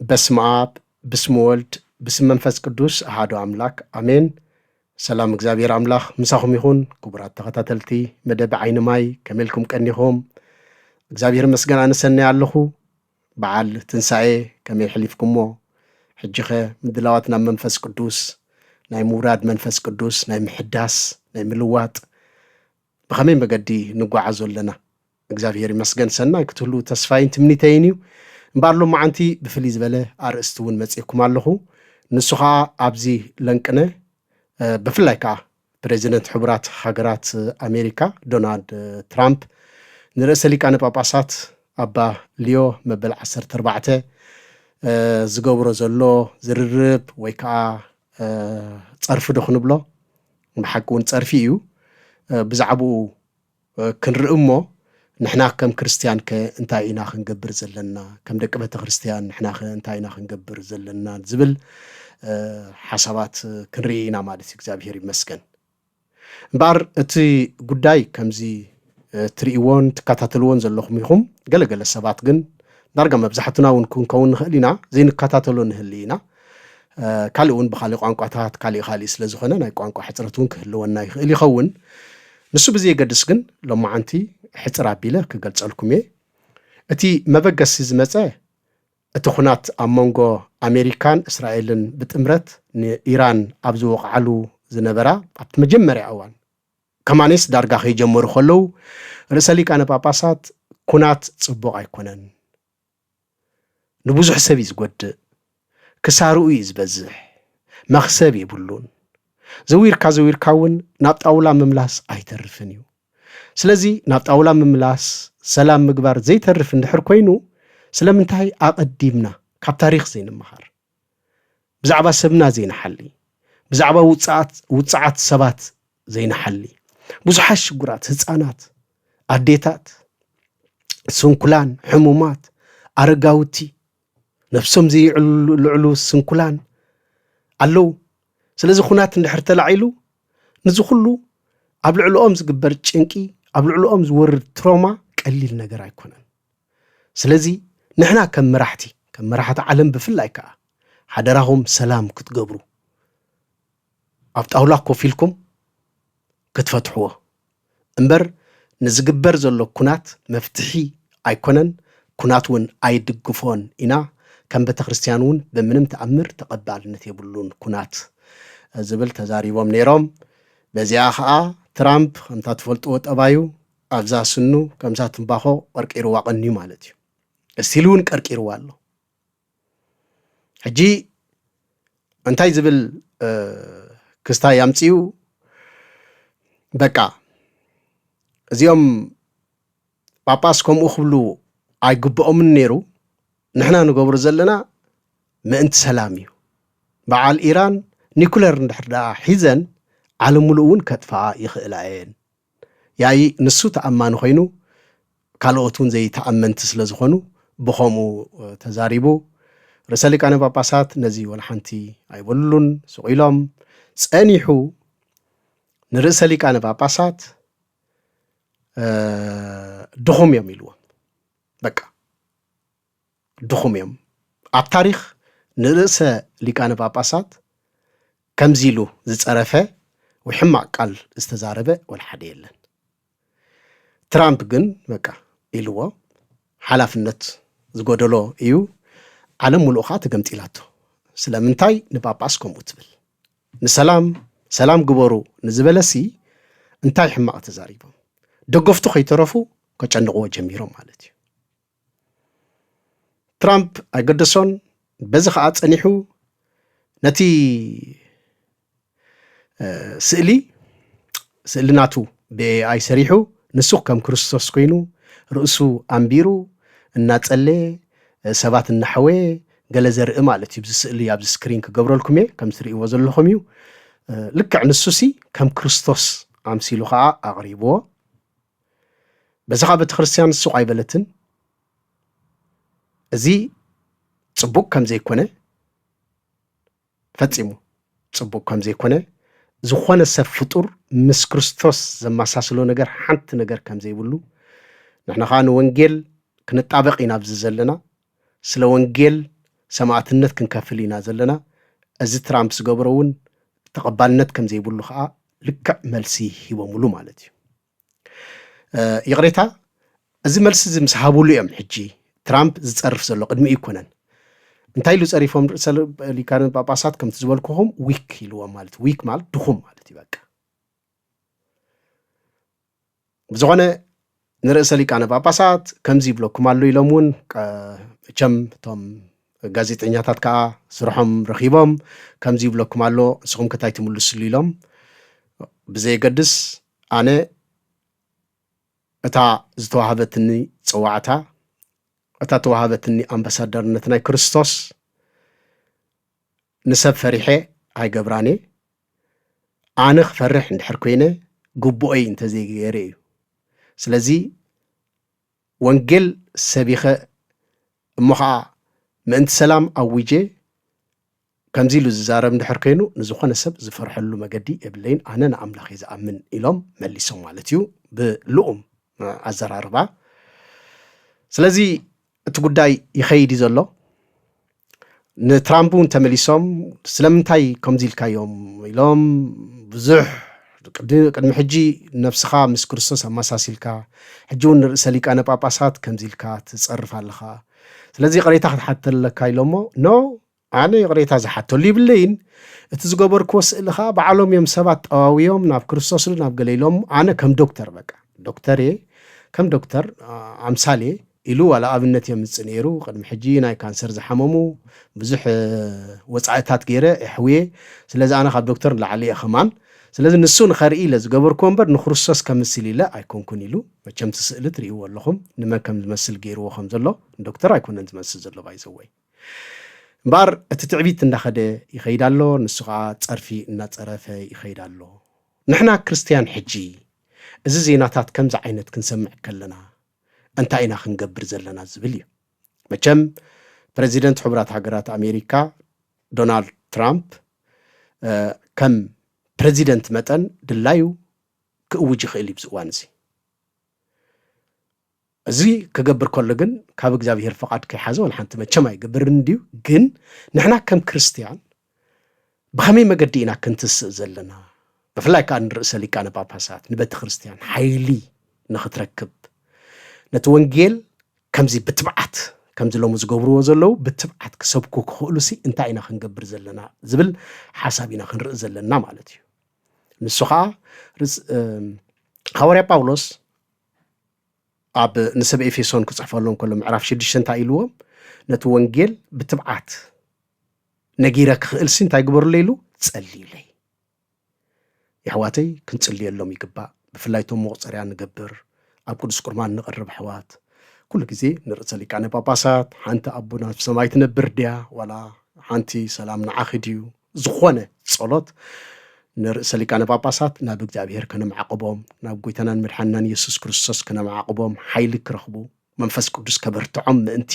በስመ ኣብ ብስም ወልድ ብስም መንፈስ ቅዱስ ኣሃዱ ኣምላክ ኣሜን። ሰላም እግዚኣብሔር ኣምላክ ምሳኹም ይኹን ክቡራት ተኸታተልቲ መደብ ዓይኒ ማይ ከመልኩም ቀኒኹም እግዚኣብሔር መስገን ኣነሰናይ ኣለኹ። በዓል ትንሣኤ ከመይ ሕሊፍኩሞ? ሕጂኸ ምድላዋት ናብ መንፈስ ቅዱስ ናይ ምውራድ መንፈስ ቅዱስ ናይ ምሕዳስ ናይ ምልዋጥ ብኸመይ መገዲ ንጓዓዞ ኣለና? እግዚኣብሄር ይመስገን ሰናይ ክትህልዉ ተስፋይን ትምኒተይን እዩ። እምበኣር ሎማዓንቲ ብፍልይ ዝበለ ኣርእስቲ እውን መጺኤኩም ኣለኹ። ንሱ ኸኣ ኣብዚ ለንቅነ ብፍላይ ከኣ ፕረዚደንት ሕቡራት ሃገራት ኣሜሪካ ዶናልድ ትራምፕ ንርእሰ ሊቃነ ጳጳሳት ኣባ ሊዮ መበል ዓሰርተ ኣርባዕተ ዝገብሮ ዘሎ ዝርርብ ወይ ከኣ ጸርፊ ዶ ክንብሎ ብሓቂ እውን ጸርፊ እዩ ብዛዕብኡ ክንርኢ እሞ ንሕና ከም ክርስትያን ከ እንታይ ኢና ክንገብር ዘለና ከም ደቂ ቤተ ክርስትያን ንሕና ከ እንታይ ኢና ክንገብር ዘለና ዝብል ሓሳባት ክንርኢ ኢና ማለት እዩ እግዚኣብሔር ይመስገን እምበኣር እቲ ጉዳይ ከምዚ ትርእይዎን ትከታተልዎን ዘለኹም ኢኹም። ገለ ገለ ሰባት ግን ዳርጋ መብዛሕትና እውን ክንከውን ንኽእል ኢና፣ ዘይንከታተሎ ንህሊ ኢና። ካልእ እውን ብኻልእ ቋንቋታት ካሊእ ኻሊእ ስለ ዝኾነ ናይ ቋንቋ ሕፅረት እውን ክህልወና ይኽእል ይኸውን። ንሱ ብዘየገድስ ግን ሎማዓንቲ ሕፅር ኣቢለ ክገልፀልኩም እየ። እቲ መበገሲ ዝመፀ እቲ ኹናት ኣብ መንጎ ኣሜሪካን እስራኤልን ብጥምረት ንኢራን ኣብ ዝወቕዓሉ ዝነበራ ኣብቲ መጀመርያ እዋን ከማኔስ ዳርጋ ከይጀመሩ ከለዉ ርእሰ ሊቃነ ጳጳሳት ኩናት ጽቡቕ ኣይኮነን ንብዙሕ ሰብ እዩ ዝጎድእ ክሳርኡ እዩ ዝበዝሕ መኽሰብ የብሉን ዘዊርካ ዘዊርካ እውን ናብ ጣውላ ምምላስ ኣይተርፍን እዩ ስለዚ ናብ ጣውላ ምምላስ ሰላም ምግባር ዘይተርፍ እንድሕር ኮይኑ ስለምንታይ ኣቐዲምና ካብ ታሪኽ ዘይንመሃር ብዛዕባ ሰብና ዘይንሓሊ፣ ብዛዕባ ውጽኣት ውጽዓት ሰባት ዘይንሓሊ፣ ብዙሓት ሽጉራት ህጻናት፣ ኣዴታት፣ ስንኩላን፣ ሕሙማት፣ ኣረጋውቲ፣ ነብሶም ዘይዕልሉ ስንኩላን ኣለዉ። ስለዚ ኩናት እንድሕር ተላዒሉ ንዚ ኩሉ ኣብ ልዕልኦም ዝግበር ጭንቂ ኣብ ልዕልኦም ዝወርድ ትሮማ ቀሊል ነገር ኣይኮነን። ስለዚ ንሕና ከም መራሕቲ ከም መራሕቲ ዓለም ብፍላይ ከኣ ሓደራኹም ሰላም ክትገብሩ ኣብ ጣውላ ኮፍ ኢልኩም ክትፈትሕዎ እምበር ንዝግበር ዘሎ ኩናት መፍትሒ ኣይኮነን ኩናት ውን ኣይድግፎን ኢና ከም ቤተክርስትያን ውን ብምንም ተኣምር ተቐባልነት የብሉን ኩናት ዝብል ተዛሪቦም ነይሮም። በዚኣ ከኣ ትራምፕ ከምታ ትፈልጥዎ ጠባዩ ኣብዛ ስኑ ከምዛ ትምባኾ ቐርቂሩዋ ቐንዩ ማለት እዩ። እስቲል እውን ቀርቂሩዋ ኣሎ። ሕጂ እንታይ ዝብል ክስታይ ኣምፅኡ በቃ እዚኦም ጳጳስ ከምኡ ክብሉ ኣይግብኦምን ነይሩ ንሕና ንገብሮ ዘለና ምእንቲ ሰላም እዩ በዓል ኢራን ኒኩለር እንድሕር ደኣ ሒዘን ዓለም ምሉእ እውን ከጥፍኣ ይኽእላ እየን ያኢ ንሱ ተኣማኒ ኮይኑ ካልኦት እውን ዘይተኣመንቲ ስለ ዝኾኑ ብኸምኡ ተዛሪቡ። ርእሰ ሊቃነ ጳጳሳት ነዚ ወለሓንቲ ኣይበሉሉን፣ ስቕ ኢሎም። ጸኒሑ ንርእሰ ሊቃነ ጳጳሳት ድኹም እዮም ኢልዎም በቃ። ድኹም እዮም። ኣብ ታሪኽ ንርእሰ ሊቃነ ጳጳሳት ከምዚ ኢሉ ዝጸረፈ ወይ ሕማቕ ቃል ዝተዛረበ ወላ ሓደ የለን። ትራምፕ ግን በቃ ኢልዎ ሓላፍነት ዝጎደሎ እዩ። ዓለም ምሉእ ኸኣ ተገምጢላቶ። ስለምንታይ ንጳጳስ ከምኡ ትብል? ንሰላም ሰላም ግበሩ ንዝበለሲ እንታይ ሕማቕ ተዛሪቦም? ደገፍቱ ከይተረፉ ከጨንቕዎ ጀሚሮም ማለት እዩ። ትራምፕ ኣይገደሶን። በዚ ከዓ ፀኒሑ ነቲ ስእሊ ስእሊ ናቱ ብኤኣይ ሰሪሑ ንሱ ከም ክርስቶስ ኮይኑ ርእሱ ኣንቢሩ እናፀለየ ሰባት እናሓወየ ገለ ዘርኢ ማለት እዩ ብዚ ስእሊ ኣብዚ ስክሪን ክገብረልኩም እየ ከም ትርእይዎ ዘለኹም እዩ ልክዕ ንሱሲ ከም ክርስቶስ ኣምሲሉ ከዓ ኣቕሪብዎ በዚ ከዓ ቤተክርስትያን ሱቕ ኣይበለትን። እዚ ፅቡቅ ከም ዘይኮነ ፈፂሙ ፅቡቅ ከም ዘይኮነ ዝኾነ ሰብ ፍጡር ምስ ክርስቶስ ዘመሳስሎ ነገር ሓንቲ ነገር ከም ዘይብሉ ንሕና ከዓ ንወንጌል ክንጣበቅ ኢና ኣብዚ ዘለና ስለ ወንጌል ሰማእትነት ክንከፍል ኢና ዘለና፣ እዚ ትራምፕ ዝገብሮ እውን ተቐባልነት ከም ዘይብሉ ከኣ ልክዕ መልሲ ሂቦምሉ ማለት እዩ። ይቕሬታ እዚ መልሲ እዚ ምስ ሃብሉ እዮም ሕጂ ትራምፕ ዝጸርፍ ዘሎ ቅድሚ ኣይኮነን። እንታይ ኢሉ ጸሪፎም ርእሰ ሊቃነ ጳጳሳት ከምቲ ዝበልኩኹም ዊክ ኢልዎም ማለት ዊክ ማለት ድኹም ማለት እዩ በቃ ብዝኾነ ንርእሰ ሊቃነ ጳጳሳት ከምዚ ይብለኩም ኣሎ ኢሎም እውን እቸም እቶም ጋዜጠኛታት ከዓ ስርሖም ረኺቦም ከምዚ ይብለኩም ኣሎ ንስኹም ከታይ ትምልስሉ ኢሎም ብዘየገድስ ኣነ እታ ዝተዋህበትኒ ፅዋዕታ እታ ተዋህበትኒ ኣምባሳደርነት ናይ ክርስቶስ ንሰብ ፈሪሐ ኣይገብራን'የ፣ ኣነ ክፈርሕ እንድሕር ኮይነ ግቡኦይ እንተዘይገይረ እዩ፣ ስለዚ ወንጌል ሰቢኸ እሞ ኸኣ ምእንቲ ሰላም ኣዊጀ ከምዚ ኢሉ ዝዛረብ እንድሕር ኮይኑ ንዝኾነ ሰብ ዝፈርሐሉ መገዲ የብለይን ኣነ ንኣምላኽ'የ ዝኣምን ኢሎም መሊሶም ማለት እዩ ብልኡም ኣዘራርባ ስለዚ እቲ ጉዳይ ይኸይድ እዩ ዘሎ። ንትራምፕ እውን ተመሊሶም ስለምንታይ ከምዚ ኢልካዮም ኢሎም ብዙሕ ቅድሚ ሕጂ ነፍስኻ ምስ ክርስቶስ ኣመሳሲልካ ሕጂ እውን ንርእሰ ሊቃነ ጳጳሳት ከምዚ ኢልካ ትጸርፍ ኣለኻ ስለዚ ይቕሬታ ክትሓተለካ ኢሎሞ ኖ ኣነ ይቕሬታ ዝሓተሉ ይብለይን፣ እቲ ዝገበርክዎ ስእሊ ከኣ ባዕሎም እዮም ሰባት ጠዋውዮም ናብ ክርስቶስ ዶ ናብ ገለ ኢሎም ኣነ ከም ዶክተር በቃ ዶክተር እየ ከም ዶክተር ኣምሳል እየ ኢሉ ዋላ ኣብነት የምጽእ ነይሩ ቅድሚ ሕጂ ናይ ካንሰር ዝሓመሙ ብዙሕ ወጻኢታት ገይረ የሕውየ ስለዚ ኣነ ካብ ዶክተር ንላዕሊ እየ ከማን ስለዚ ንሱ ንኸርኢ ኢለ ዝገበርክዎ እምበር ንክርስቶስ ከምስል ኢለ ኣይኮንኩን ኢሉ መቸምቲ ስእሊ ትርእይዎ ኣለኹም ንመን ከም ዝመስል ገይርዎ ከም ዘሎ ንዶክተር ኣይኮነን ዝመስል ዘሎ ባይዘወይ እምበኣር እቲ ትዕቢት እንዳኸደ ይኸይድ ኣሎ፣ ንሱ ኸኣ ጸርፊ እናጸረፈ ይኸይድ ኣሎ። ንሕና ክርስትያን ሕጂ እዚ ዜናታት ከምዚ ዓይነት ክንሰምዕ ከለና እንታይ ኢና ክንገብር ዘለና ዝብል እዩ። መቸም ፕረዚደንት ሕቡራት ሃገራት ኣሜሪካ ዶናልድ ትራምፕ ከም ፕረዚደንት መጠን ድላዩ ክእውጅ ይኽእል እዩ ብዚ እዋን እዚ። እዚ ክገብር ከሎ ግን ካብ እግዚኣብሄር ፍቓድ ከይሓዘ ዋላ ሓንቲ መቸም ኣይገብርን እንድዩ። ግን ንሕና ከም ክርስትያን ብኸመይ መገዲ ኢና ክንትስእ ዘለና? ብፍላይ ከኣ ንርእሰ ሊቃነ ጳጳሳት ንቤተ ክርስትያን ሓይሊ ንኽትረክብ ነቲ ወንጌል ከምዚ ብትብዓት ከምዚ ሎሚ ዝገብርዎ ዘለዉ ብትብዓት ክሰብኩ ክኽእሉሲ እንታይ ኢና ክንገብር ዘለና ዝብል ሓሳብ ኢና ክንርኢ ዘለና ማለት እዩ። ንሱ ከዓ ሃዋርያ ጳውሎስ ኣብ ንሰብ ኤፌሶን ክጽሕፈሎም ከሎ ምዕራፍ ሽዱሽተ እንታይ ኢልዎም ነቲ ወንጌል ብትብዓት ነጊረ ክኽእልሲ እንታይ ግበሩለይ ኢሉ ጸልዩለይ የሕዋተይ ክንጽልየሎም ይግባእ ብፍላይ እቶም መቑፀርያ ንገብር ኣብ ቅዱስ ቁርማን ንቕርብ ኣሕዋት ኩሉ ግዜ ንርእሰ ሊቃነ ጳጳሳት ሓንቲ ኣቦና ኣብ ሰማይ ትነብር ድያ ዋላ ሓንቲ ሰላም ንዓኺ ድዩ ዝኾነ ጸሎት ንርእሰ ሊቃነ ጳጳሳት ናብ እግዚኣብሔር ከነማዕቕቦም ናብ ጐይታናን መድሓንናን ኢየሱስ ክርስቶስ ከነማዕቕቦም ሓይሊ ክረኽቡ መንፈስ ቅዱስ ከበርትዖም ምእንቲ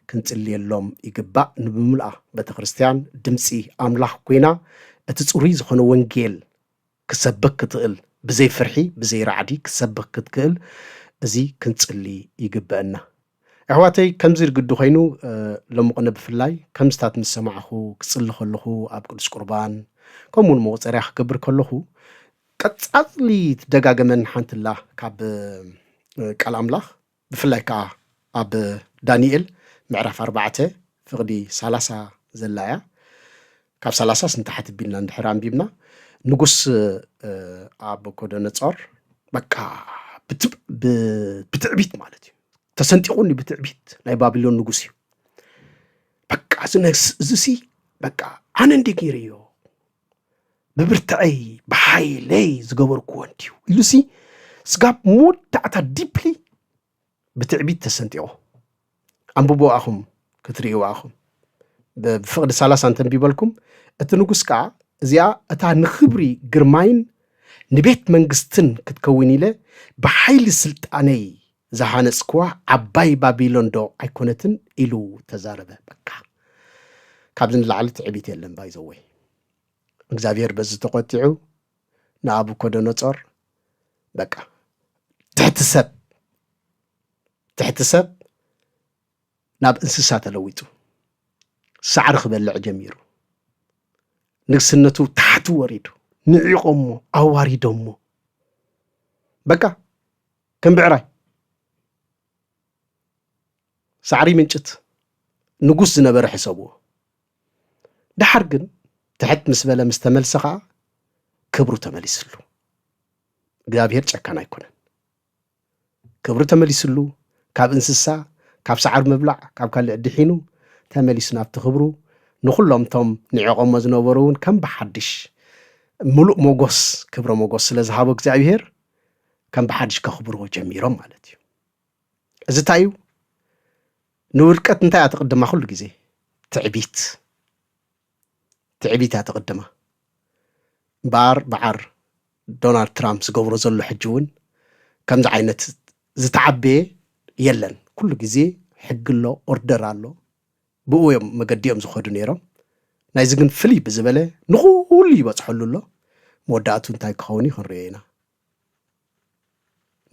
ክንጽልየሎም ይግባእ ንብምልኣ ቤተ ክርስቲያን ድምጺ ኣምላኽ ኰይና እቲ ጽሩይ ዝኾነ ወንጌል ክትሰብክ ክትእል ብዘይ ፍርሒ ብዘይ ራዕዲ ክትሰብክ ክትክእል እዚ ክንጽሊ ይግበእና ኣሕዋተይ ከምዚ ግዲ ኮይኑ ሎምቕነ ብፍላይ ከምዝታት ምስ ሰማዕኹ ክጽሊ ከለኹ ኣብ ቅዱስ ቁርባን ከምኡ ውን መቑጸርያ ክገብር ከለኹ ቀጻጽሊ ትደጋገመን ሓንትላ ካብ ቃል ኣምላኽ ብፍላይ ከኣ ኣብ ዳኒኤል ምዕራፍ ኣርባዕተ ፍቕዲ ሰላሳ ዘላ እያ። ካብ ሰላሳስ ንታሕቲ ቢልና እንድሕር ኣንቢብና ንጉስ ኣቦኮደነጾር በቃ ብትዕቢት ማለት እዩ ተሰንጢቑኒ ብትዕቢት ናይ ባቢሎን ንጉስ እዩ በቃ እዚ ነግስ እዚሲ በቃ ኣነ እንዴ ገይረዮ ብብርትዐይ ብሓይለይ ዝገበርክዎ እንድዩ ኢሉሲ ስጋብ መወዳእታ ዲፕሊ ብትዕቢት ተሰንጢቑ ኣንብቦ ኣኹም ክትርእይዎ ኣኹም ብፍቕዲ ሳላሳ እንተንቢበልኩም እቲ ንጉስ ከዓ እዚኣ እታ ንኽብሪ ግርማይን ንቤት መንግስትን ክትከውን ኢለ ብሓይሊ ስልጣነይ ዝሃነጽክዋ ዓባይ ባቢሎንዶ ኣይኮነትን ኢሉ ተዛረበ በቃ ካብዚ ንላዕሊ ትዕቢት የለን ባይዘወይ እግዚኣብሔር በዚ ተቆጢዑ ንኣቡኮደኖጾር በቃ ትሕቲ ሰብ ትሕቲ ሰብ ናብ እንስሳ ተለዊጡ ሳዕሪ ክበልዕ ጀሚሩ ንግስነቱ ታሕቲ ወሪዱ ንዒቆሞ ኣዋሪዶሞ በቃ ከም ብዕራይ ሳዕሪ ይምንጭት ንጉስ ዝነበረ ሕሰብዎ። ደሓር ግን ትሕት ምስ በለ ምስ ተመልሰ ኸዓ ክብሩ ተመሊስሉ። እግዚኣብሄር ጨካን ኣይኮነን። ክብሩ ተመሊስሉ ካብ እንስሳ ካብ ሰዓር ምብላዕ ካብ ካልእ ድሒኑ ተመሊሱ ናብቲ ክብሩ ንኹሎም እቶም ንዕቖሞ ዝነበሩ እውን ከም ብሓድሽ ምሉእ ሞጎስ ክብረ ሞጎስ ስለ ዝሃቦ እግዚኣብሄር ከም ብሓድሽ ከኽብርዎ ጀሚሮም ማለት እዩ እዚ እንታይ እዩ ንውድቀት እንታይ እያ ትቕድማ ኩሉ ግዜ ትዕቢት ትዕቢት እያ ትቕድማ እምበኣር በዓር ዶናልድ ትራምፕ ዝገብሮ ዘሎ ሕጂ እውን ከምዚ ዓይነት ዝተዓበየ የለን ኩሉ ግዜ ሕጊ ኣሎ ኦርደር ኣሎ ብኡ እዮም መገዲኦም ዝኸዱ ነይሮም። ናይዚ ግን ፍልይ ብዝበለ ንኹሉ ይበጽሐሉ ኣሎ። መወዳእቱ እንታይ ክኸውን እዩ ክንሪኦ ኢና።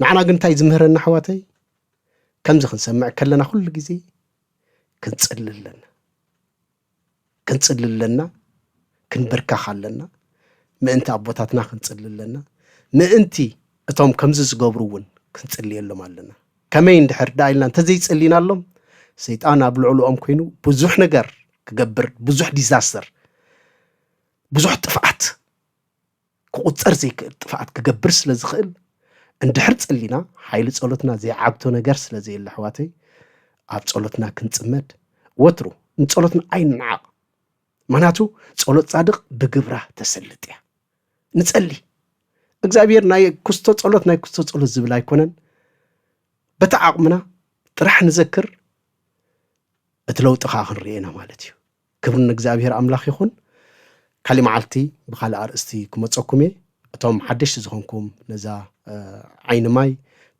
ንዓና ግን እንታይ ዝምህረና ኣሕዋተይ ከምዚ ክንሰምዕ ከለና ኩሉ ግዜ ክንጽሊ ኣለና ክንጽሊ ኣለና ክንብርካኽ ኣለና ምእንቲ ኣቦታትና ክንጽሊ ኣለና ምእንቲ እቶም ከምዚ ዝገብሩ እውን ክንጽልየሎም ኣለና ከመይ እንድሕር ደኣ ኢልና እንተዘይጸሊናሎም ሰይጣን ኣብ ልዕልኦም ኮይኑ ብዙሕ ነገር ክገብር ብዙሕ ዲዛስተር ብዙሕ ጥፍኣት ክቑጸር ዘይክእል ጥፍኣት ክገብር ስለ ዝኽእል እንድሕር ጸሊና ሓይሊ ጸሎትና ዘይዓግቶ ነገር ስለ ዘየለ ኣሕዋተይ ኣብ ጸሎትና ክንጽመድ ወትሩ ንጸሎትና ኣይንንዓቕ ምክንያቱ ጸሎት ጻድቕ ብግብራ ተሰልጥ እያ ንጸሊ እግዚኣብሔር ናይ ኩስቶ ጸሎት ናይ ኩስቶ ጸሎት ዝብል ኣይኮነን በቲ ዓቕምና ጥራሕ ንዘክር እቲ ለውጢ ከዓ ክንሪኦ ኢና ማለት እዩ ክብሪ ንእግዚኣብሔር ኣምላኽ ይኹን ካሊእ መዓልቲ ብካልእ ኣርእስቲ ክመፀኩም እየ እቶም ሓደሽቲ ዝኾንኩም ነዛ ዓይኒ ማይ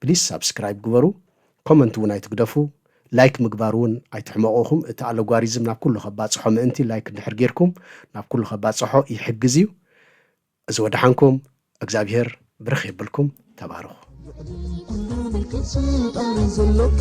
ፕሊስ ሳብስክራይብ ግበሩ ኮመንት ውን ኣይትግደፉ ላይክ ምግባር ውን ኣይትሕመቁ እኹም እቲ ኣለጓሪዝም ናብ ኩሉ ከባጽሖ ምእንቲ ላይክ እንድሕር ጌርኩም ናብ ኩሉ ከባጽሖ ይሕግዝ እዩ እዚ ወደሓንኩም እግዝኣብሄር ብርኽ የብልኩም ተባረኹ። ልዕሊ ኩሉ ምልክት ስልጣን ዘለካ